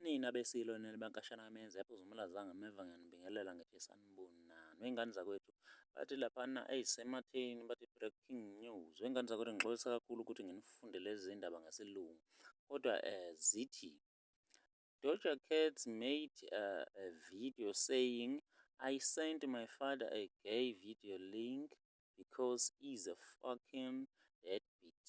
Nina beSilo nina bankashana amenze yaphuza umlaza ngameva ngiyanibingelela ngeke saniboni nani wengane zakwethu bathi laphana eyi sematheni bathi breaking news wengane zakwethu ngixolisa kakhulu ukuthi nginifunde lezi zindaba ngesilungu kodwa eh zithi Doja Cat made uh, a video saying I sent my father a gay video link because he's a fucking deadbeat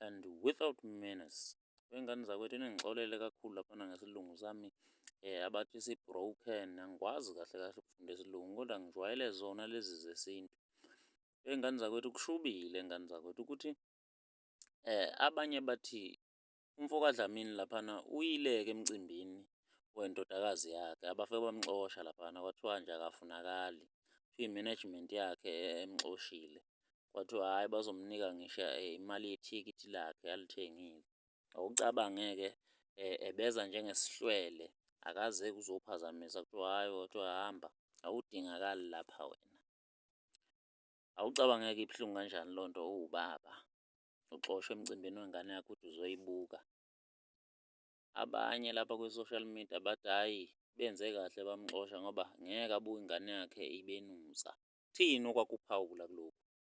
and without manners. Wengane zakwethu ningixolele kakhulu laphana ngesilungu sami um abathi si-broken angikwazi kahle kahle ukufunda isilungu kodwa ngijwayele zona lezi zesintu. Wey'ngane zakwethu kushubile ngane zakwethu ukuthi um abanye bathi umfo kaDlamini laphana uyileke emcimbini wendodakazi yakhe abafike bamxosha laphana kwathiwa nje akafunakali, kuthiwa i-management yakhe emxoshile. kwathiwa hhayi bazomnika ngisho imali yethikithi lakhe alithengile. Awucabange-ke ebeza njengesihlwele akaze ekuzophazamisa kuthiwa hhayi kwathiwa hamba awudingakali lapha wena. Awucabange-ke ibuhlungu kanjani leyo nto uwubaba uxoshwa emcimbini wengane yakho uthi uzoyibuka. abanye lapha kwi-social media bathi hhayi benze kahle bamxosha ngoba ngeke abuke ingane yakhe ibenusa. Ukuthini okwakuphawula kulokhu?